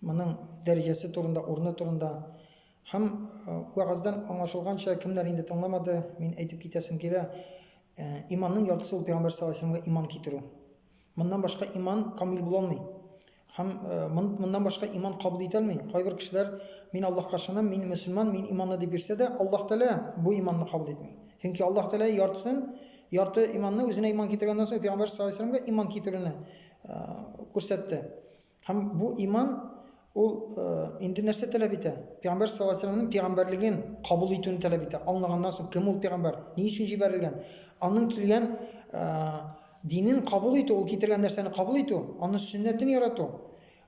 Моның дәрәҗәсе турында, урыны турында һәм вәгазьдән аңлашылганча, кемнәр инде тыңламады, мин әйтеп китәсем килә, иманның яртысы ул пәйгамбәр саллаллаһу алейһи вәсәләмгә иман китерү. Моннан башка иман камил була алмый. Һәм моннан башка иман кабул итә алмый. Кайбер кешеләр мин Аллаһка ышанам, мин мөселман, мин иманны дип йөрсә дә, Аллаһ Тәгалә бу иманны кабул итми. Чөнки Аллаһ Тәгалә яртысын, ярты иманны үзенә иман китергәннән соң пәйгамбәр саллаллаһу алейһи вәсәләмгә иман китерүне күрсәтте. Һәм бу иман ул инде нәрсә таләп итә? Пәйгамбәр саллаллаһу алейһи вәсәлләмнең пәйгамбәрлеген кабул итүне таләп итә. Аңлаганнан соң, кем ул пәйгамбәр, ни өчен җибәрелгән, аның килгән динен кабул итү, ул китергән нәрсәне кабул итү, аның сөннәтен ярату,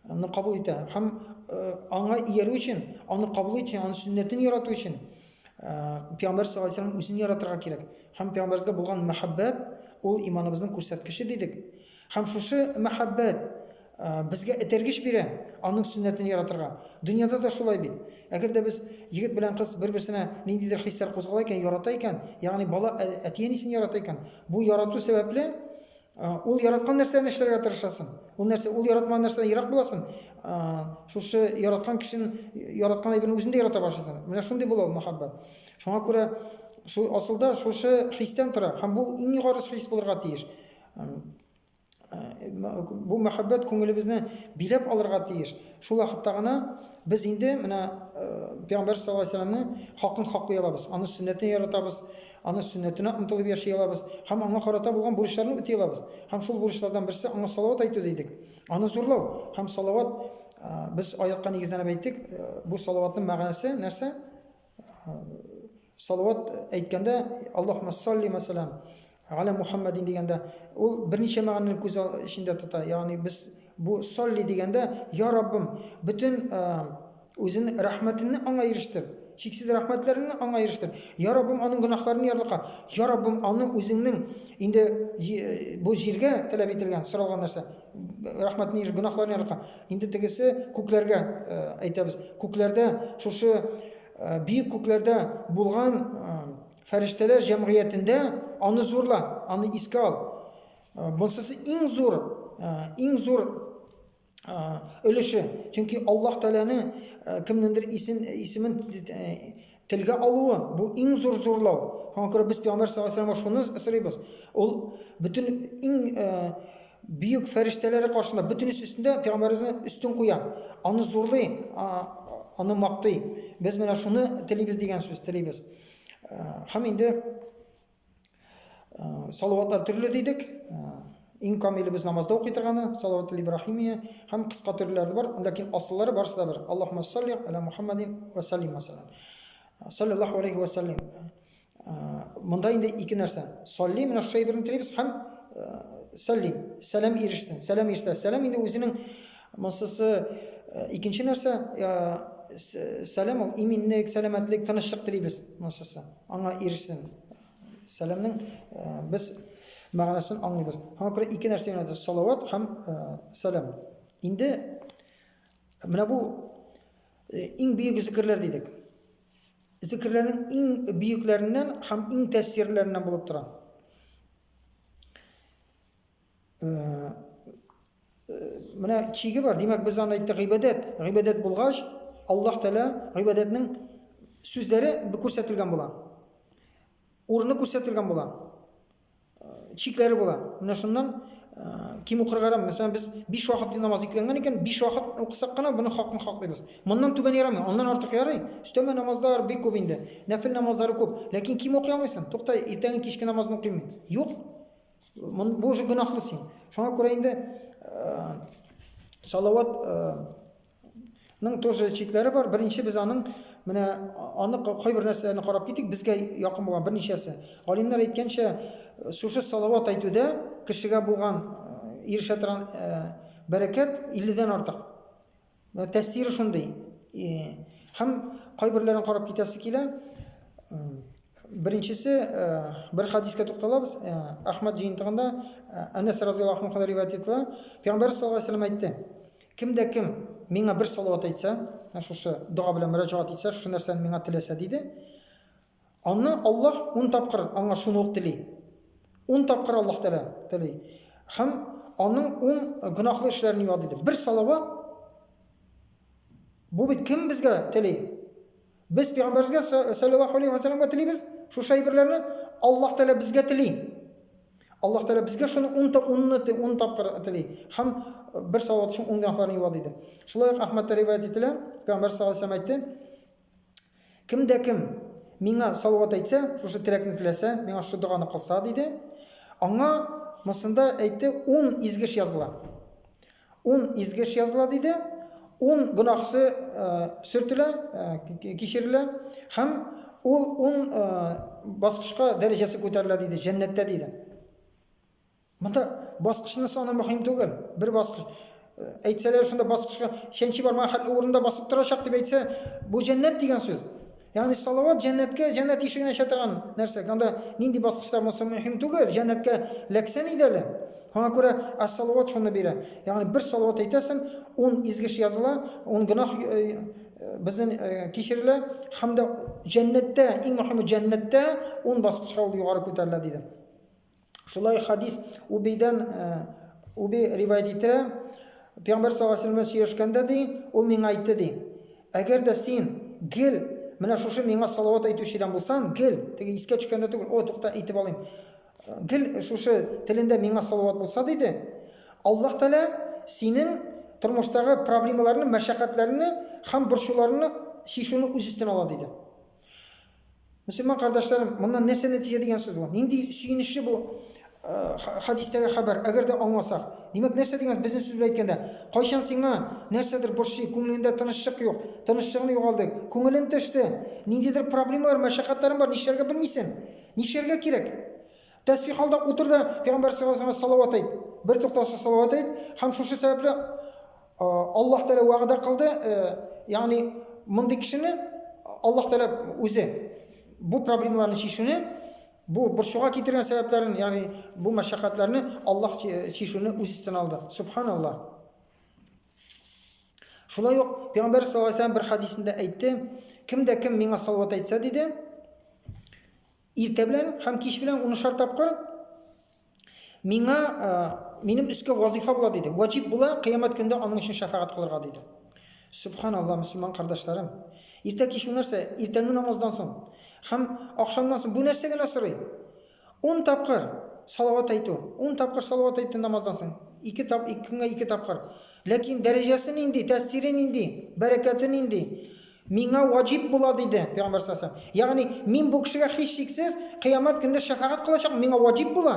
аны кабул итә. Һәм аңа иярү өчен, аны кабул итү өчен, аның сөннәтен ярату өчен пәйгамбәр саллаллаһу алейһи вәсәлләм үзен яратырга кирәк. Һәм пәйгамбәргә булган мәхәббәт ул иманыбызның күрсәткече дидек. Һәм шушы мәхәббәт безгә этәргеч бирә Аның сөннәтен яратырга. Дөньяда да шулай бит. Әгәр дә без, егет белән кыз, бер-берсенә ниндидер хисләр кузгала икән, ярата икән, ягъни бала әти-әнисен ярата икән, бу ярату сәбәпле ул яраткан нәрсәне эшләргә тырышасың. Ул нәрсә, ул яратмаган нәрсәдән ерак буласың. Шушы яраткан кешен, яраткан әйберне үзен дә ярата башлыйсың. Менә шундый була ул мәхәббәт. Шуңа күрә шул асылда шушы хистән тора һәм бу иң югары хис булырга тиеш. Бу мәхәббәт күңелебезне биләп алырга тиеш. Шул вакытта гына без инде менә Пәйгамбәр саллаллаһу алейһи вәсәлләмнең хакын хаклый алабыз. Аны сөннәтен яратабыз, аны сөннәтенә омтылып яши алабыз һәм аңа карата булган бурычларны үти алабыз. Һәм шул бурычлардан берсе аңа салават әйтү дидек. Аны зурлау һәм салават без аятка нигезләнеп әйттек, бу салаватның мәгънәсе нәрсә? Салават әйткәндә, Аллаһумма салли мәсәлән, галә Мухаммадин дигәндә, ул берничә мәгънәне күз эчендә тота. Ягъни без бу салли дигәндә, я Раббым, бөтен үзен рәхмәтеңне аңа ирештер. Чиксез рәхмәтләреңне аңа ирештер. Я Раббым, аның гөнаһларын ярлыка. Я Раббым, аны үзеңнең инде бу җиргә таләп ителгән, соралган нәрсә. рәхмәт ни гөнаһларын ярылткан инде тегесе күкләргә э, әйтәбез күкләрдә шушы э, биек күкләрдә булган э, фәрештәләр җәмгыятендә аны зурла аны искә ал бунсысы иң зур иң зур өлеше чөнки аллаһ тәгаләнең кемнеңдер исен исемен Телгә алуы, бу иң зур зурлау. Шуңа күрә без Пәйгамбәр саллаллаһу алейһи ва сәлләмгә шуны сорыйбыз. Ул бөтен иң бөек фәрештәләре каршында, бөтенесе өстендә Пәйгамбәребезне өстен куя, аны зурлый, аны мактый. Без менә шуны телибез дигән сүз, телибез. Һәм инде Салаватлар төрле дидек. Иң камиле без намазда укый торганы салават ибрахимия һәм кыска төрләре бар, ләкин асыллары барысы да бер. Аллаһумма салли аля Мухаммадин ва саллим мәсәлән. Саллаллаху алейхи ва саллим. Монда инде ике нәрсә. Салли менә шушы әйберне телибез һәм саллим. Сәлам ирешсен. Сәлам иштә. Сәлам инде үзенең масысы икенче нәрсә сәлам ул иминлек, сәламәтлек, тынычлык телибез масасы. Аңа ирешсен. Сәламнең без мәгънәсен аңлыйбыз. Аңа күрә ике нәрсә генә салават һәм сәлам. Инде менә бу иң бөек зикерләр дидек. Зикерләрнең иң бөекләреннән һәм иң тәэсирләреннән булып тора. Менә чиге бар. Димәк, без аны әйттек гыйбадәт. Гыйбадәт булгач, Аллаһ Тәгалә гыйбадәтнең сүзләре күрсәтелгән була. Урыны күрсәтелгән була. Чикләре була. Менә шуннан ким укырга ярам. Мәсәлән, без 5 вакыт намаз икләнгән икән, 5 вакыт укысак кына моны хакын хаклыйбыз. Моннан түбән ярамый, аннан артык ярый. Өстәмә намазлар бик күп инде. Нәфил намазлары күп. Ләкин ким укый алмыйсың. Тукта, иртәнге кичке намазны укыйм мин. Юк. Мон- Бу уже гөнаһлы син. Шуңа күрә инде э, салават э, ның тоже чикләре бар. Беренче без аның менә а- аны ка- кайбер нәрсәләрне карап китик, безгә якын булган берничәсе. Галимнәр әйткәнчә, э, шушы салават әйтүдә кешегә булган э, ирешә торган э, бәрәкәт 50 дән артык. Менә тәэсире шундый. Һәм кайберләрен карап китәсе килә. Беренчесе, бер хадискә тукталабыз. Әхмәд җыентыгында Әнәс разыяллаһу анхудан риваять ителә. Пәйгамбәр саллаллаһу алейһи вәсәлләм әйтте. Кемдә кем миңа бер салават әйтсә, шушы дога белән мөрәҗәгать итсә, шушы нәрсәне миңа теләсә диде. Аннан Аллаһ ун тапкыр аңа шуны ук тели. Ун тапкыр Аллаһ Тәгалә тели. Һәм аның ун гөнаһлы эшләрен юа, диде. Бер салават, бу бит кем безгә тели? Без пәйгамбәребезгә саллаллаһу алейһи ва саллямга телибез, шушы әйберләрне Аллаһ Тәгалә безгә тели. Аллаһ Тәгалә безгә шуны ун та унны ун тапкыр тели. Һәм бер салават өчен ун гөнаһларны юа, диде. Шулай ук Әхмәттә риваять ителә, пәйгамбәр саллаллаһу алейһи ва саллям әйтте, Кем дә кем миңа салават әйтсә, шушы теләкне теләсә, миңа шушы доганы кылса, диде. Аңа мосында әйтте, ун изгеш языла. Ун изгеш языла, диде. Ун гөнаһсы э, сөртелә, э, кичерелә. Һәм ул ун э, баскычка дәрәҗәсе күтәрелә, диде, җәннәттә, диде. Монда баскычның саны мөһим түгел. Бер баскыч э, әйтсәләр шунда баскычка чәнчи бармаган хәтле урында басып торачак дип әйтсә, бу җәннәт дигән сүз. Ягъни салават җәннәткә, җәннәт ишеген ача торган нәрсә. Анда нинди баскычта булса мөһим түгел, җәннәткә ләксән иде әле. Аңа күрә ас-салават шуны бирә. Ягъни бер салават әйтәсен, 10 изгеш языла, 10 гына э, э, безнең э, кичерелә һәм дә җәннәттә, иң мөһиме җәннәттә 10 баскычка ул югары күтәрелә диде. Шулай хадис Убейдән Уби риваять итә. Пәйгамбер саллаллаху алейһи ва сөйләшкәндә ди, ул миңа әйтте ди. Әгәр дә син гел менә шушы миңа салават әйтүчедән булсан, гел теге искә төшкәндә түгел, о, тукта әйтеп алыйм. Гел шушы телендә миңа салават булса диде. Аллаһ Тәгалә синең тормыштагы проблемаларны, мәшәкатьләрне һәм борчуларны чишүне үз өстенә ала диде. Мөселман кардәшләрем, моннан нәрсә нәтиҗә дигән сүз бу? Нинди сөенечле бу хадистәге хәбәр, әгәр дә аңласак. Димәк, нәрсә дигән безнең сүз белән әйткәндә, кайчан сиңа нәрсәдер борчый, күңелендә тынычлык юк, тынычлыгын югалды, күңелен төште, ниндидер проблемалар, мәшәкатьләрең бар, нишләргә белмисең? Нишләргә кирәк? Тәсбих алда утыр да, пәйгамбәр саллаллаһу алейһи салават әйт. Бер туктаусыз салават әйт һәм шушы сәбәпле Аллаһ Тәгалә вәгъдә кылды, ягъни мондый кешене Аллаһ Тәгалә үзе бу проблемаларны чишүне бу борчуга китергән сәбәпләрен, ягъни бу мәшәкатьләрне Аллаһ чишүне үз өстенә алды. Субханаллаһ. Шулай ук Пәйгамбәр саллаллаһу алейһи бер хадисендә әйтте, кем дә кем миңа салават әйтсә диде, Иртә белән һәм кич белән унышар тапкыр миңа минем өскә вазифа була диде. Ваҗиб була, кыямәт көндә аның өчен шәфәгать кылырга диде. Субханалла, мөселман кардәшләрем. Иртә кич нәрсә? Иртәнге намаздан соң һәм ахшамнан соң бу нәрсә генә сорый? 10 тапкыр салават әйтү, 10 тапкыр салават әйтте намаздан соң. Ике тап, ике көнгә ике тапкыр. Ләкин дәрәҗәсе нинди, тәэсире нинди, бәрәкәте нинди? Миңа ваҗиб була, диде, пәйгамбәр саллаллаһу галәйһи ва сәлләм. Ягъни, мин бу кешегә һичшиксез кыямәт көнендә шәфәгать кылачакмын, миңа ваҗиб була.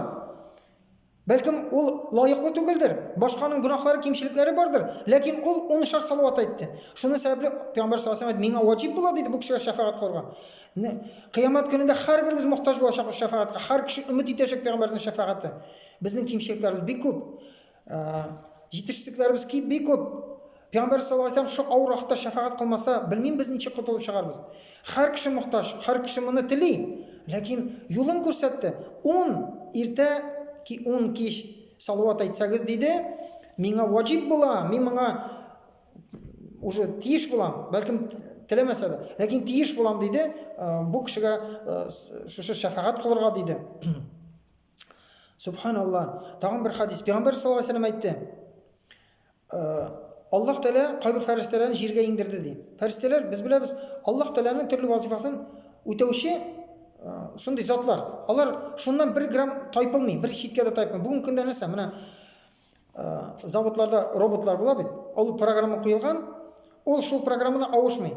Бәлкем, ул лаеклы түгелдер, башканың гөнаһлары, кимчелекләре бардыр, ләкин ул унышар салават әйтте. Шуның сәбәпле, пәйгамбәр саллаллаһу галәйһи ва сәлләм, миңа ваҗиб була, диде, бу кешегә шәфәгать кылырга. Нә, кыямәт көнендә һәрберебез мохтаҗ булачакбыз шәфәгатькә, һәр кеше өмет итәчәк пәйгамбәрнең шәфәгате. Безнең кимчелекләребез бик күп. Җитешсезлекләребез ки бик күп. Пәйгамбәр саллаллаһу алейһи ва саллям шу авыр вакытта шәфәгать кылмаса, белмим без ничек котылып чыгарбыз. Һәр кеше мохтаҗ, һәр кеше моны тели, ләкин юлын күрсәтте. Ун иртә ки ун кич салават әйтсәгез, диде, миңа ваҗиб була, мин моңа уже тиеш булам, бәлкем теләмәсә дә, ләкин тиеш булам, диде, бу кешегә шушы шәфәгать кылырга, диде. Субханалла. Тагын бер хадис. Пәйгамбер саллаллаһу алейһи ва сәлләм әйтте. Э, Аллаһ Тәгалә кайбер фәрештәләрен җиргә иңдерде ди. Фәрештәләр без беләбез, Аллаһ Тәгаләнең төрле вазифасын үтәүче э, шундый затлар. Алар шуннан бер грамм тайпылмый, бер читкә дә тайпылмый. Бүген көндә нәрсә? Менә заводларда роботлар була бит, ул программа куелган, ул шул программаны авышмый.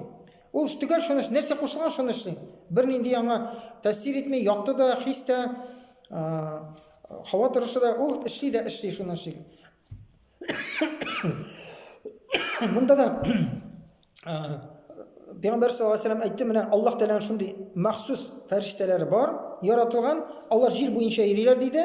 Ул төгәл шуны нәрсә кушылган шуны эшли. Бернинди аңа тәэсир итми, якты да, хис тә, һава торышы да, ул эшли дә эшли шуны эшли. Монда да Пәйгамбәр саллаллаху алейһи вәсәлләм әйтте, менә Аллаһ Тәгаләнең шундый махсус фәрештәләре бар, яратылган, алар җир буенча йөриләр диде.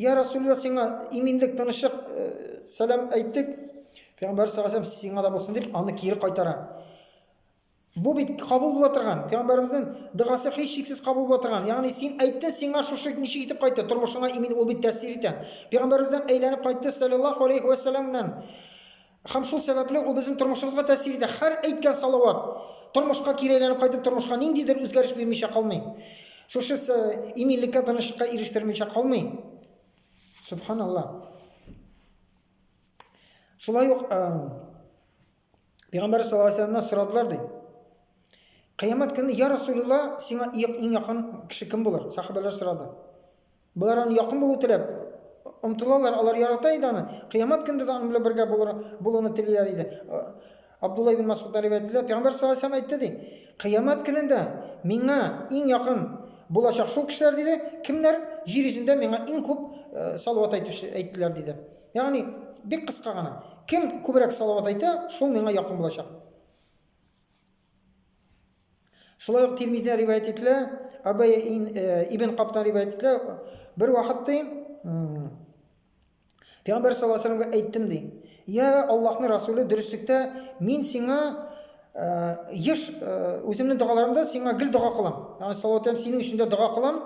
Йә Расулла, сиңа иминлек, тынычлык, сәлам әйттек. Пәйгамбәр саллаллаһу алейһи сиңа да булсын дип, аны кире кайтара. Бу бит кабул була торган. Пәйгамбәребезнең догасы һич шиксез кабул була торган. Ягъни син әйттең, сиңа шушы ничек итеп кайтты, тормышыңа имин ул бит тәэсир итә. Пәйгамбәребездән әйләнеп кайтты саллаллаһу алейһи ва сәлламнан. Һәм шул сәбәпле ул безнең тормышыбызга тәэсир итә. Һәр әйткән салават тормышка кире әйләнеп кайтып, тормышка ниндидер үзгәреш бирмичә калмый. Шушы с иминлеккә, тынычлыкка ирештермичә калмый. Сөбханалла. Шулай ук э, Пәйгамбәр саллаллаһу алейһи вәсәлламнан сорадылар ди. Кыямәт көне, я Расулулла, сиңа иң якын кеше кем булыр? Сахабәләр сорады. Болар аны якын булу теләп омтылалар, алар ярата иде аны. Кыямәт көндә дә аның белән бергә булыр, булуны телиләр иде. Абдулла ибн Масгудтан риваять ителә, Пәйгамбәр саллаллаһу алейһи әйтте ди, Кыямәт көнендә миңа иң якын булачак шул кешеләр диде, кемнәр җир йөзендә миңа иң күп э, салават әйтүче әйттеләр диде. Ягъни бик кыска гына. Кем күбрәк салават әйтә, шул миңа якын булачак. Шулай ук Тирмизидә риваять ителә, Абай э, ибн Каптан риваять ителә, бер вакыт ди, Пәйгамбәр саллаллаху алейһи вәсәләмгә әйттем ди. Я Аллаһның Расулы, дөреслектә мин сиңа э, еш э, үземнең догаларымда сиңа гел дога кылам. Ягъни салават һәм синең өчен дә дога кылам.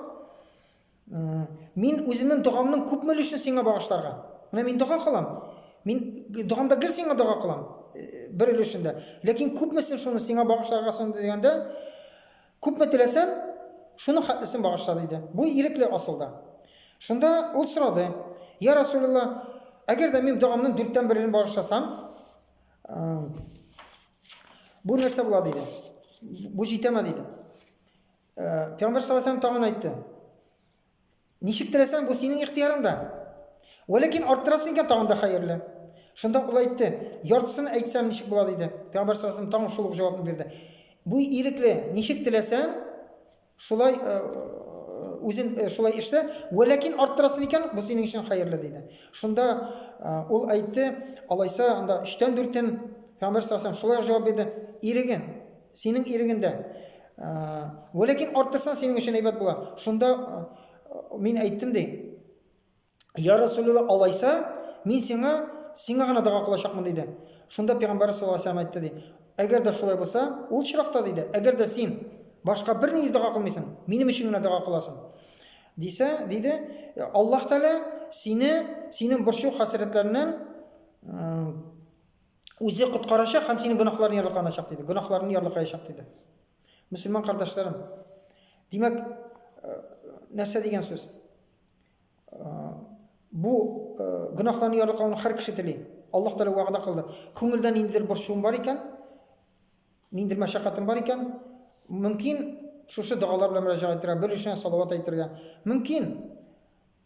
Мин үземнең догамның күпме өлешен сиңа багышларга? Менә мин дога кылам. Мин догамда гел сиңа дога кылам. Э, бер өлешендә. Ләкин күпмесен шуны сиңа багышларга соң дигәндә, күпме теләсәм, шуның хәтлесен багышла диде. Бу ирекле асылда. Шунда ул сорады: "Я Расулулла, әгәр дә мин догамның дүрттән берен багышласам, э, бу нәрсә була?" диде. Бу җитәме диде. Пәйгамбәр саллаллаху алейһи тагын әйтте. Ничек теләсәң, бу синең ихтиярыңда. Вәләкин арттырасың икән тагын да хәерле. Шунда ул әйтте, яртысын әйтсәм ничек була диде. Пәйгамбәр саллаллаху алейһи тагын шул ук җавапны бирде. Бу ирекле, ничек теләсәң, шулай үзен шулай эшлә, вәләкин арттырасың икән, бу синең өчен хәерле диде. Шунда ул әйтте, алайса анда 3-тән 4-тен Пәйгамбәр саллаллаху алейһи шулай җавап бирде. Ирегем, Синең ирегендә. Вә ләкин арттырсаң, синең өчен әйбәт була. Шунда мин әйттем ди. Я Расулулла, алайса, мин сиңа, сиңа гына дога кылачакмын диде. Шунда пәйгамбәр саллаллаһу алейһи әйтте ди. Әгәр дә шулай булса, ул чиракта диде, әгәр дә син башка бернинди дога кылмыйсың, минем өчен генә дога кыласың. Дисә, диде, Аллаһ Тәгалә сине, синең борчу хәсрәтләреннән Үзе коткарачак һәм синең гөнаһларны ярлыканачак диде. Гөнаһларны ярлыкаячак диде. Мөселман кардәшләрем. Димәк, э, нәрсә дигән сүз? Э, бу э, гөнаһларны ярлыкауны һәр кеше тели. Аллаһ Тәгалә вәгъдә кылды. Күңелдә ниндидер борчуым бар икән, ниндидер мәшәкатем бар икән, мөмкин, шушы догалар белән мөрәҗәгать итәргә, бер өлешенә салават әйтергә. Мөмкин,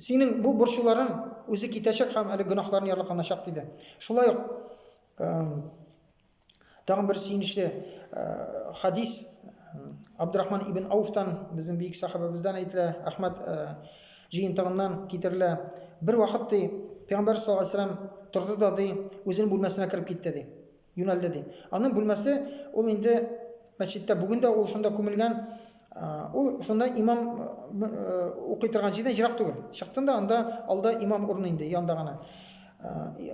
Синең бу борчуларың үзе китәчәк һәм әле гөнаһларны ярлыканачак, диде. Шулай ук тагын бер сөенечле хадис Абдурахман ибн Ауфтан, безнең бөек сахабабыздан әйтелә, Әхмәд җыентыгыннан китерелә. Бер вакыт ди, Пәйгамбәр саллаллаһу алейһи торды да ди, үзенең бүлмәсенә кереп китте ди. Юнәлде ди. Аның бүлмәсе ул инде мәчеттә бүген дә ул шунда күмелгән. Ул шунда имам укый торган җирдән җирак түгел. Чыктым да анда алда имам урыны инде янда гына.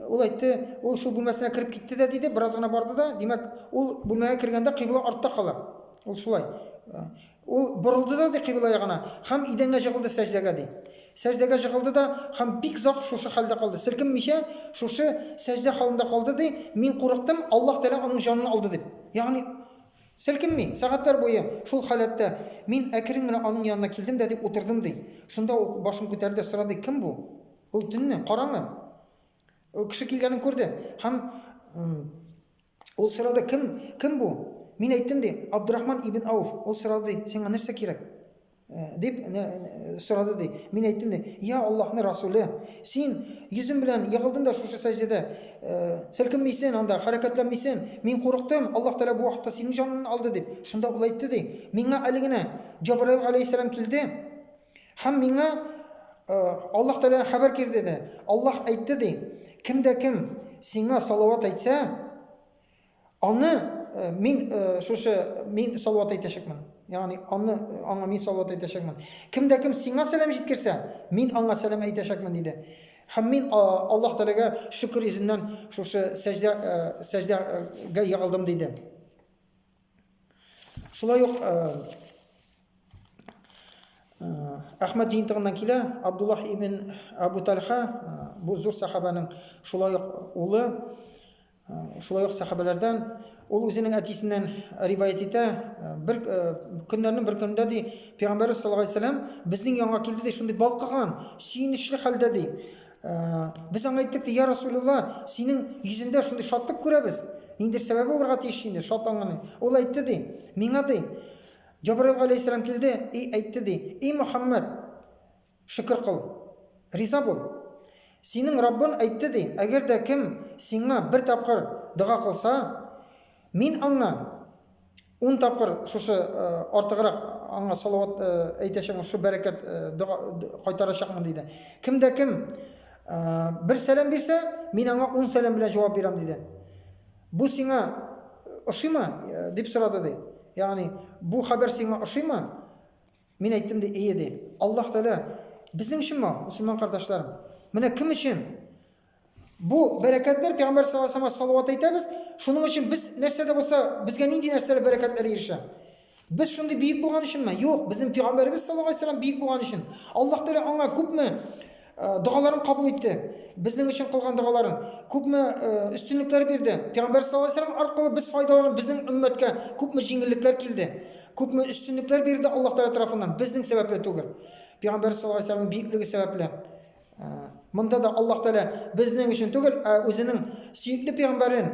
Ул әйтте, ул шул бүлмәсенә кереп китте дә диде, бераз гына барды да, димәк, ул бүлмәгә кергәндә кыйбла артта кала. Ул шулай. Ул борылды да, ди, кыйбла ягына һәм идәнгә җыгылды сәҗдәгә, ди. Сәҗдәгә җыгылды да һәм бик озак шушы хәлдә калды, селкенмичә шушы сәҗдә халында калды, ди, мин курыктым, Аллаһ Тәгалә аның җанын алды дип. Ягъни, селкенми, сәгатьләр буе шул халәттә. Мин әкрен генә аның янына килдем дә, ди, утырдым, ди. Шунда ул башын күтәрде дә сорады, Кем бу? Ул төнне, караңгы. Кеше килгәнен күрде һәм Ул сорады, кем, кем бу? Мин әйттем ди, Абдурахман ибн Ауф. Ул сорады ди, сиңа нәрсә кирәк? Э, дип э, э, сорады ди. Мин әйттем ди, я Аллаһны Расуле, син йөзем белән егылдың да шушы сәҗдәдә селкенмисен анда, хәрәкәтләнмисен. Мин курыктым, Аллаһ Тәгалә бу вакытта синең җаныңны алды дип. Шунда ул әйтте ди, миңа әле генә Җабраил галәйһиссәлам килде. Һәм миңа Аллаһ Тәгалә хәбәр кирде дә, Аллаһ әйтте ди, кем дә кем сиңа салават әйтсә, аны мин шушы мин салават әйтәчәкмен. Ягъни аны аңа мин салават әйтәчәкмен. Кем дә кем сиңа сәлам җиткерсә, мин аңа сәлам әйтәчәкмен диде. Һәм мин Аллаһ Тәгаләгә шөкер йөзеннән шушы сәҗдә сәҗдәгә егылдым диде. Шулай ук Әхмәд җыентыгыннан килә, Абдуллах ибн Абу Тальха, бу зур сахабаның шулай ук улы, шулай ук сахабалардан, ул үзенең әтисеннән риваять итә, бер көннәрнең бер көнендә ди, Пәйгамбәрбез саллаллаһу алейһи вәсәлләм безнең янга килде ди, шундый балкыган, сөенечле хәлдә ди. Ә, без аңа әйттек, ди, я Расулулла, синең йөзендә шундый шатлык күрәбез. Ниндер сәбәбе булырга тиеш сине шатланганы. Ул әйтте, ди, миңа, ди, Җабраил галәйһиссәлам килде и әйтте, ди, и Мөхәммәд, шөкер кыл, риза бул. Синең Раббың әйтте, ди, әгәр дә кем сиңа бер тапкыр дога кылса, мин аңа Ун тапкыр шушы артыграк аңа салават әйтәчәкмен, шушы бәрәкәт дога кайтарачакмын, диде. Кем дә кем бер сәлам бирсә, мин аңа ун сәлам белән җавап бирәм, диде. Бу сиңа ошыймы? дип сорады, ди. Ягъни, бу хәбәр сиңа ошыймы? Мин әйттем, ди, ие, ди. Аллаһ Тәгалә безнең өчен моңа, мөселман кардәшләрем. Менә кем өчен Бу бәрәкәтләр Пәйгамбәр саллаллаһу алейһи ва сәлләмгә салават әйтәбез. Шуның өчен без нәрсә дә булса, безгә нинди нәрсәләр бәрәкәтләр ирешә? Без шундый бөек булган өченме? Юк, безнең Пәйгамбәребез саллаллаһу алейһи ва сәлләм бөек булган өчен. Аллаһ Тәгалә аңа күпме э, догаларын кабул итте. Безнең өчен кылган догаларын күпме э, өстенлекләр бирде. Пәйгамбәр саллаллаһу алейһи ва сәлләм аркылы без файдаланып, безнең өммәткә күпме җиңеллекләр килде. Күпме өстенлекләр бирде Аллаһ Тәгалә тарафыннан, безнең сәбәпле түгел. Пәйгамбәр саллаллаһу алейһи ва сәлләмнең бөеклеге сәбәпле. Монда да Аллаһ Тәгалә безнең өчен түгел, ә үзенең сөекле пәйгамбәрен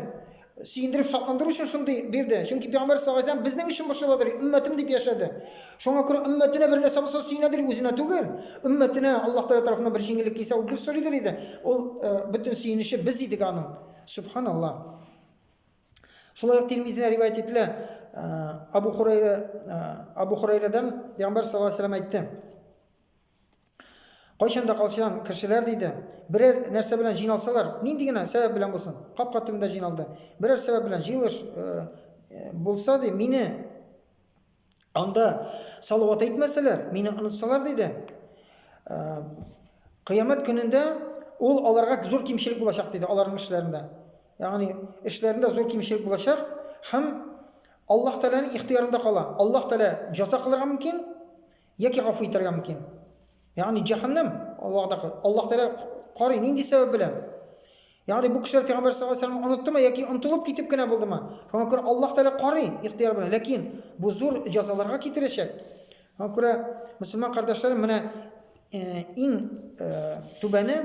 сөендереп шатландыру өчен шундый бирде. Чөнки пәйгамбәр саллаллаһу алейһи безнең өчен борчыладыр, өммәтем дип яшәде. Шуңа күрә өммәтенә бер нәрсә булса сөенәдер, үзенә түгел. Өммәтенә Аллаһ Тәгалә тарафыннан бер җиңеллек килсә, ул гел сорыйдыр иде. Ул бөтен сөенече без идек аның. Субханаллаһ. Шулай ук Тирмизидә риваять ителә. Абу Хурайра Абу Хурайрадан пәйгамбәр саллаллаһу алейһи әйтте. Кайчан да калчан кешеләр диде, берәр нәрсә белән җыйналсалар, нинди генә сәбәп белән булсын, капка төбендә җыйналды. Берәр сәбәп белән җыелыш э, э, булса, ди, мине анда салават әйтмәсәләр, мине онытсалар, диде. Э, кыямәт көнендә ул аларга зур кимчелек булачак, диде, аларның эшләрендә. Ягъни, эшләрендә зур кимчелек булачак һәм Аллаһ Тәгаләнең ихтыярында кала. Аллаһ Тәгалә җаза кылырга мөмкин, Яки гафу итәргә мөмкин. Ягъни җәһәннәм вәгъдә кыл. Аллаһ Тәгалә карый, нинди сәбәп белән? Ягъни бу кешеләр пәйгамбәр саллаллаһу алейһи ва сәлләмне оныттымы яки онтылып китеп кенә булдымы? Шуңа күрә Аллаһ Тәгалә карый ихтыяр белән, ләкин бу зур җәзаларга китерәчәк. Шуңа күрә мөселман кардәшләрем, менә иң түбәне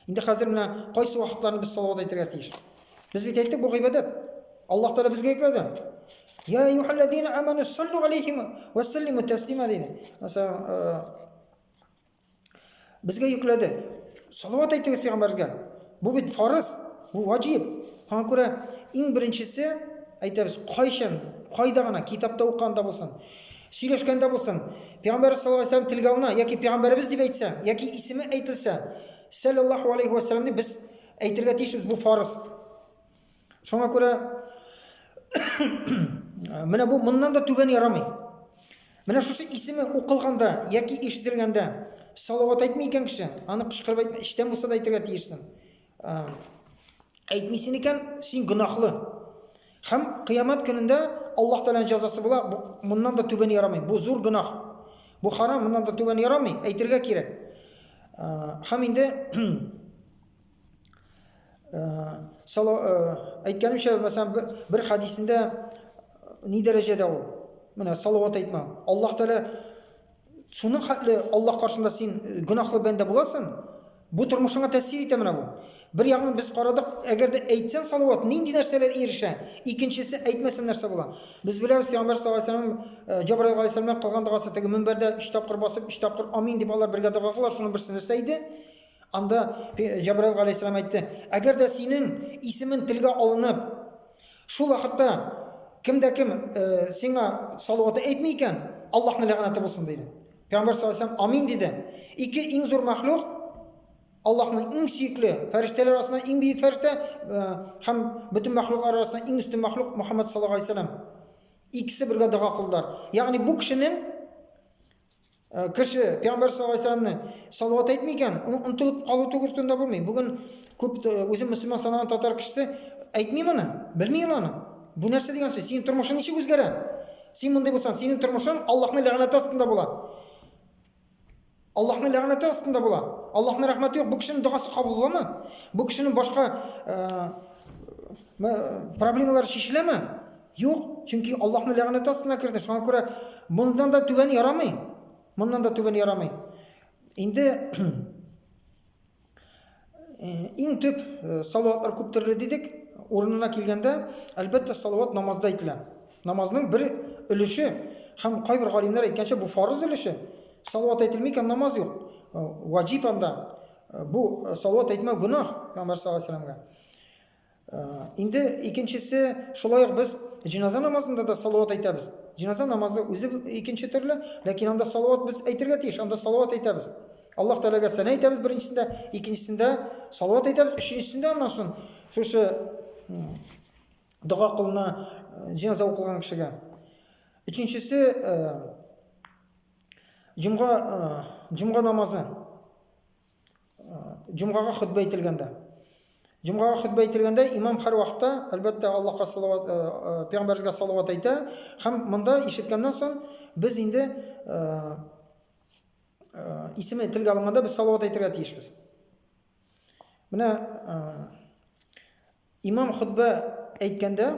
Инде хәзер менә кайсы вакытларны без салават әйтергә тиеш? Без бит әйттек, бу гыйбадәт. Аллаһ Тәгалә безгә йөкләде. Я юхаллазина аману саллу алейхим ва саллиму таслима диде. Мәсәлән, э, безгә йөкләде. Салават әйтегез пәйгамбәргә. Бу бит фарыз, бу ваҗиб. Һәм күрә иң беренчесе әйтәбез, кайчан, кайда гына китапта укганда булсын, сөйләшкәндә булсын, Пәйгамбәребез саллаллаһу галәйһи ва сәлләм телгә алына яки пәйгамбәребез дип әйтсә, яки исеме әйтелсә, сәлләллаһу галәйһи ва сәлләм дип без әйтергә тиешбез, бу фарыз. Шуңа күрә менә бу моннан да түбән ярамый. Менә шушы исеме укылганда яки ишетелгәндә салават әйтми икән кеше, аны кычкырып әйтмә, эчтән булса да әйтергә тиешсең. әйтмисен икән, син гөнаһлы. Һәм кыямәт көнендә Аллаһ Тәгаләнең җәзасы була, моннан да түбән ярамый. Бу зур гөнаһ. Бу харам, моннан да түбән ярамый, әйтергә кирәк. Һәм инде сала әйткәнемчә, мәсәлән, бер хадисендә ни дәрәҗәдә ул? Менә салават әйтмә. Аллаһ Тәгалә Шуның хәтле Аллаһ каршында син э, гөнаһлы бәндә буласың. Бу тормышыңа тәэсир итә менә бу. Бер ягын без карадык, әгәр дә әйтсәң салават, нинди нәрсәләр ирешә? Икенчесе әйтмәсәң нәрсә була? Без беләбез Пәйгамбәр саллаллаһу алейһи ва саллям Җабраил алейһи саллам белән кылган догасы теге мөнбәрдә 3 тапкыр басып, 3 тапкыр амин дип алар бергә дога кылалар, шуның берсе нәрсә иде? Анда Җабраил алейһи саллам әйтте, әгәр дә синең исемең телгә алынып, Шул вакытта кем дә кем сиңа салаваты әйтми икән, Аллаһның ләгънәте булсын диде. Пәйгамбәр саллаллаһу алейһи амин диде. Ике иң зур мәхлук Аллаһның иң сөекле фәрештәләр арасында иң бөек фәрештә һәм бөтен мәхлук арасында иң өстен мәхлук Мөхәммәд саллаллаһу алейһи вәсәлләм. Икесе бергә дога кылдылар. Ягъни бу кешенең Э, кеше пәйгамбәр саллаллаху алейхи вәсәләмне салават әйтми икән онытылып калу түгел турында булмый бүген күп э, үзе мөселман санаган татар кешесе әйтми моны белми ул аны бу нәрсә дигән сүз синең тормышың ничек үзгәрә син мондый булсаң синең тормышың аллаһның ләгънәте астында була аллаһның ләгънәте астында була аллаһның рәхмәте юк бу кешенең догасы кабул буламы бу кешенең башка э, проблемалары шешеләме Юк, чөнки Аллаһның ләгънәте астына керде. Шуңа күрә мондан да түбән ярамый. Моннан да түбән ярамый. Инде Э, иң төп э, салаватлар күп төрле дидек урынына килгәндә әлбәттә салават намазда әйтелә намазның бер өлеше һәм кайбер галимнәр әйткәнчә бу фарыз өлеше салават әйтелми икән намаз юк э, ваҗиб анда бу салават әйтмәү гөнаһ пәйгамбәр саллаллаху алейһи Инде икенчесе шулай ук без җиназа намазында да салават әйтәбез. Җиназа намазы үзе икенче төрле, ләкин анда салават без әйтергә тиеш, анда салават әйтәбез. Аллаһ Тәгаләгә сәна әйтәбез беренчесендә, икенчесендә салават әйтәбез, өченчесендә аннан соң шушы дога кылына җиназа укылган кешегә. Өченчесе җомга җомга намазы. Җомгага хөтбә әйтелгәндә. Җомгага хөтбә әйтелгәндә имам һәрвакытта, әлбәттә, Аллаһка салават, э, э, пәйгамбәргә салават әйтә. Һәм монда ишеткәннән соң без инде э, исеме телгә алынганда без салават әйтергә тиешбез. Менә Имам хотбә әйткәндә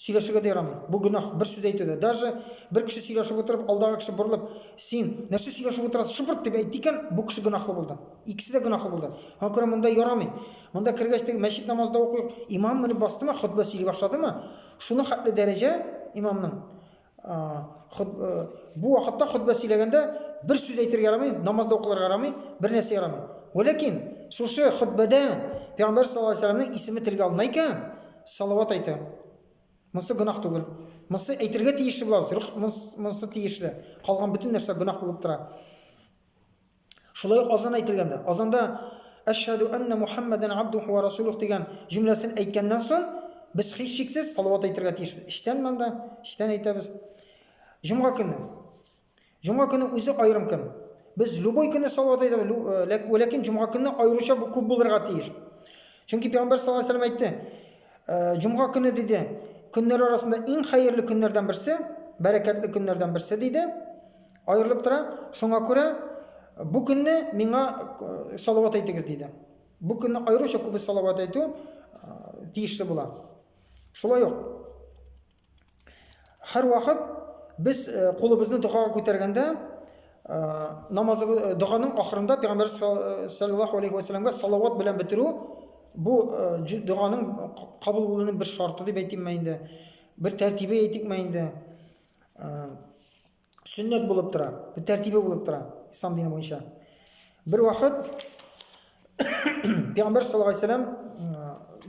сөйләшергә дә ярамый. Бу гөнаһ бер сүз әйтү дә. Даже бер кеше сөйләшеп утырып, алдагы кеше борылып, син нәрсә сөйләшеп утырасың, шыбырт дип әйтте икән, бу кеше гөнаһлы булды. Икесе дә гөнаһлы булды. Шуңа күрә монда ярамый. Монда кергәч теге мәчет намазы да укыйк. Имам менеп бастымы, хотбә сөйли башладымы, шуны хәтле дәрәҗә имамның Бу вакытта хөтбә сөйләгәндә бер сүз әйтергә ярамый, намазда укылырга ярамый, бер нәрсә ярамый. Вәләкин шушы хөтбәдә Пәйгамбәр саллаллаһу алейһи вәсәлләмнең исеме телгә алына икән, салават әйтә. Монысы гөнаһ түгел. Монысы әйтергә тиешле була, монысы тиешле. Калган бөтен нәрсә гөнаһ булып тора. Шулай ук азан әйтелгәндә, азанда Әшһәду әннә Мухаммәдән абдуху вә расулух дигән җөмләсен әйткәннән соң, без һичшиксез салават әйтергә тиешбез. Эчтән монда, эчтән әйтәбез. Җомга көне. Җомга көне үзе аерым көн. Без любой көнне салават әйтәбез, э, ләкин җомга көнне аеруча бу күп булырга тиеш. Чөнки пәйгамбәр саллаллаһу алейһи әйтте, э, җомга көне диде, көннәр арасында иң хәерле көннәрдән берсе, бәрәкәтле көннәрдән берсе диде. Аерылып тора, шуңа күрә бу көнне миңа салават әйтегез диде. Бу көнне аеруча күбе салават әйтү тиешле була. Шулай ук һәрвакыт без кулыбызны догага күтәргәндә намазы доганың ахырында пәйгамбәр саллаллаху алейхи ва салламга салават белән бетерү бу доганың кабул булуының бер шарты дип әйтимме инде, бер тәртибе әйтикме инде. сөннәт булып тора, бер тәртибе булып тора ислам дине буенча. Бер вакыт Пәйгамбер саллаллаху алейхи вәсәләм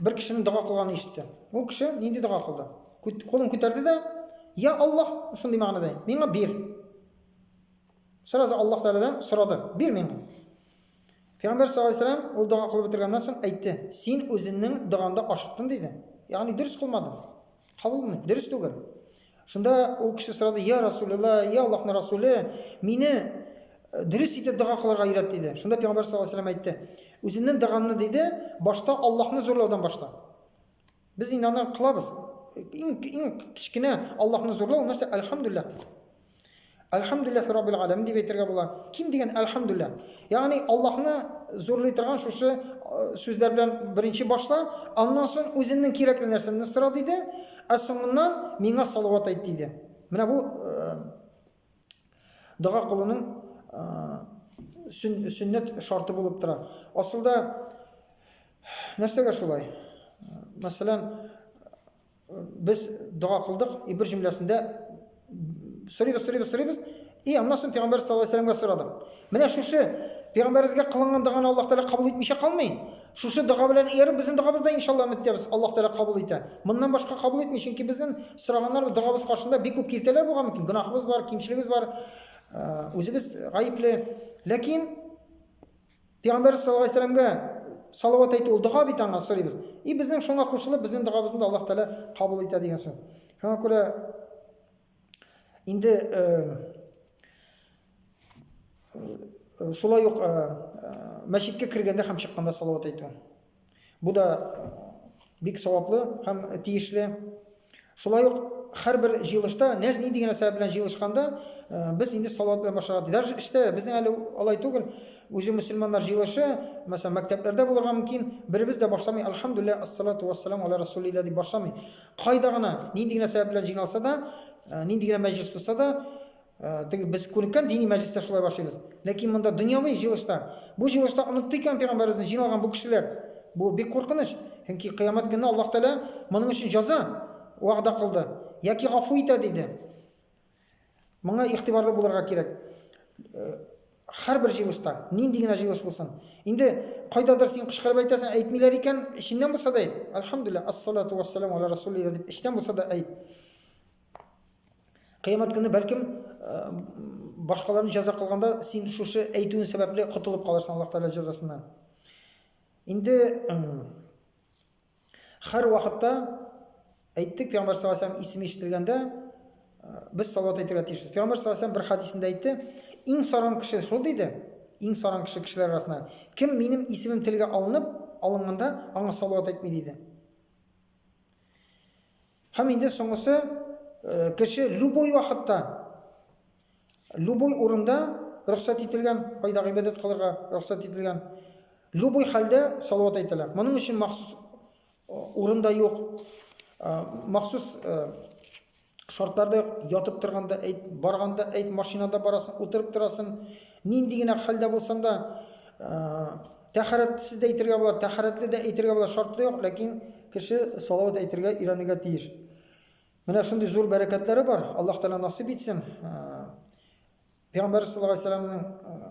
бер кешенең дога кылганын ишетте. Ул кеше нинди дога кылды? Кулын күтәрде дә, "Я Аллаһ", шундый мәгънәдә, "миңа бир". Сразу Аллаһ Тәгаләдән сорады, "Бир миңа". Пәйгамбәр саллаллаһу алейһи ва сәлләм, ул дога кылып бетергәннән соң, әйтте, Син үзенең догаңда ашыктың, диде. Ягъни дөрес кылмадың. Кабул булмый, дөрес түгел. Шунда ул кеше сорады, Йа Расулелла, йә Аллаһның Расуле, мине дөрес итеп дога кылырга өйрәт, диде. Шунда Пәйгамбәр саллаллаһу алейһи ва сәлләм әйтте, Үзеңнең догаңны, диде, башта Аллаһны зурлаудан башла. Без инде аны кылабыз. Иң иң кечкенә Аллаһны зурлау нәрсә? Әлхәмдүлилләһ. Әлхәмдүлилләһи раббил аләмин дип әйтергә була. Ким дигән әлхәмдүлилләһ. Ягъни Аллаһны зурлый торган шушы э, сүзләр белән беренче башла, аннан соң үзеңнең кирәкле нәрсәңне сора диде, ә соңыннан миңа салават әйт диде. Менә бу э, дога кылуның сөннәт шарты булып тора. Асылда нәрсәгә шулай? Мәсәлән, без дога кылдык, и бер җөмләсендә сорыйбыз, сорыйбыз, сорыйбыз, и аннан соң пәйгамбәр саллаллаһу алейһи вәсәләмгә сорадык. Менә шушы пәйгамбәребезгә кылынган доганы Аллаһ Тәгалә кабул итмичә калмый. Шушы дога белән ияреп, безнең догабыз да иншалла өмет итәбез, Аллаһ Тәгалә кабул итә. Моннан башка кабул итми, чөнки безнең сораганнар догабыз каршында бик күп киртәләр булган мөмкин, гөнаһыбыз бар, кимчелегебез бар, үзебез гаепле. Ләкин Пәйгамбәр саллаллаһу алейһи сәламгә салават әйтү ул дога бит аңа сорыйбыз. И безнең шуңа кушылып, безнең догабызны да Аллаһ Тәгалә кабул итә дигән сүз. Шуңа күрә инде Э, шулай ук э, э, мәчеткә кергәндә һәм чыкканда салават әйтү бу да бик саваплы һәм тиешле шулай ук һәрбер җыелышта нәз нинди генә сәбәп белән җыелышканда без инде салават белән башларга даже эштә безнең әле алай түгел үзе мөселманнар җыелышы мәсәлән мәктәпләрдә булырга мөмкин беребез дә башламый альхамдулилля ассалату вассалам аля расулилля дип башламый кайда гына нинди генә сәбәп белән җыйналса да нинди генә мәҗлес булса да Э, теге без күнеккән дини мәҗлестә шулай башлыйбыз ләкин монда дөньяви җыелышта бу җыелышта онытты икән пәйгамбәребезне җыйналган бу кешеләр бу бик куркыныч чөнки кыямәт көнне аллаһ тәгалә моның өчен җәза вәгъдә кылды яки гафу итә диде моңа игътибарлы булырга кирәк э, һәрбер җыелышта нинди генә җыелыш булсын инде кайдадыр син кычкырып әйтәсең әйтмиләр икән эченнән булса да әйт әлхәмдулилла ассалату вассаламу аля расулилла дип эчтән булса да әйт Кыямәт көне бәлкем башкаларны җәза кылганда син шушы әйтүен сәбәпле котылып калырсың Аллаһ Тәгалә җәзасыннан. Инде һәр вакытта әйттек Пәйгамбер саллаллаху алейһи ва исеме ишетелгәндә без салават әйтергә тиешбез. Пәйгамбер саллаллаху алейһи бер хадисендә әйтте, иң саран кеше шул диде, иң саран кеше кешеләр арасында. Кем минем исемем телгә алынып, алынганда аңа салават әйтми диде. Һәм инде соңгысы, кеше любой вакытта, любой урында рөхсәт ителгән, кайда гыйбадәт кылырга рөхсәт ителгән, любой хәлдә салават әйтелә. Моның өчен махсус урында юк, махсус шартларда юк, ятып торганда әйт, барганда әйт, машинада барасың, утырып торасың, нинди генә хәлдә булсаң да, Тәһарәтсез дә әйтергә була, тәһарәтле дә әйтергә була, шартлы юк, ләкин кеше салават әйтергә өйрәнергә тиеш. Менә шундый зур бәрәкәтләре бар. Аллаһ Тәгалә насыйп итсен. Пәйгамбәр саллаллаһу алейһи вәсәлләмнең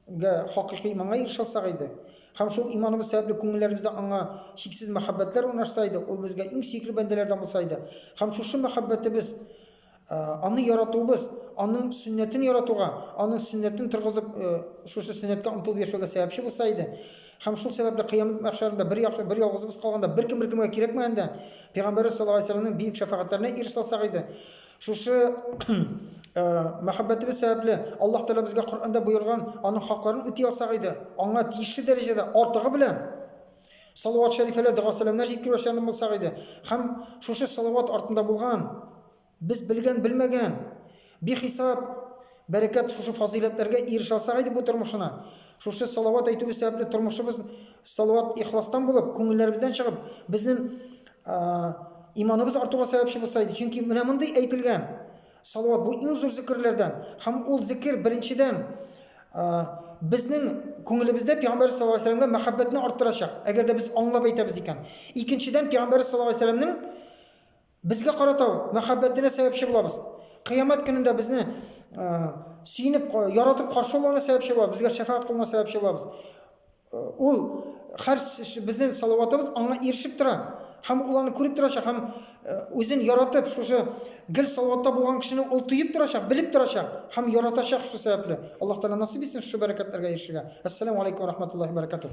гә хакыйкый иманга ирешә алсак иде, һәм шул иманыбыз сәбәпле күңелләребездә аңа чиксез мәхәббәтләр урнашса иде, ул безгә иң сөекле бәндәләрдән булса иде, һәм шушы мәхәббәтебез Аны яратуыбыз, аның сөннәтен яратуга, аның сөннәтен торгызып, шушы сөннәткә омтылып яшәүгә сәбәпче булса иде, һәм шул сәбәпле кыямәт мәхшәрендә бер яхшы, бер ялгызыбыз калганда, беркем беркемгә кирәкмәгәндә, Пәйгамбәребез саллаллаһу алейһи ва сәлләмнең биек шәфәгатьләренә ирешә алсак иде, шушы мәхәббәтебез сәбәпле Аллаһ Тәгалә безгә Коръәндә боерган аның хакларын үти алсак иде, аңа тиешле дәрәҗәдә, артыгы белән. Салават шәрифәләр, дога-сәламнәр җиткерү эшләрен булсак иде. Һәм шушы салават артында булган, без белгән-белмәгән, бихисап бәрәкәт шушы фазыйләтләргә ирешә алсак иде бу тормышына. Шушы салават әйтүебез сәбәпле тормышыбыз салават ихластан булып, күңелләребездән чыгып, безнең иманыбыз артуга сәбәпче булса иде. Чөнки менә мондый әйтелгән салават бу иң зур зикерләрдән. Һәм ул зикер беренчедән Безнең күңелебездә пәйгамбәребез саллаллаһу алейһи ва сәлләмгә мәхәббәтне арттырачак, әгәр дә без аңлап әйтәбез икән. Икенчедән, пәйгамбәребез саллаллаһу алейһи ва сәлләмнең безгә карата мәхәббәтенә сәбәпче булабыз. Кыямәт көнендә безне сөенеп, яратып каршы алуына сәбәпче булабыз, безгә шәфәгать кылуына сәбәпче булабыз. Ул һәр безнең Салаватыбыз аңа ирешеп тора һәм ул аны күреп торачак һәм үзен яратып шушы гел Салаватта булган кешене ул тоеп торачак, белеп торачак һәм яратачак шушы сәбәпле. Аллаһ Тәгалә насыйп итсен шушы бәрәкәтләргә ирешергә. Ассаламу алейкум ва рахматуллахи ва баракатуһ.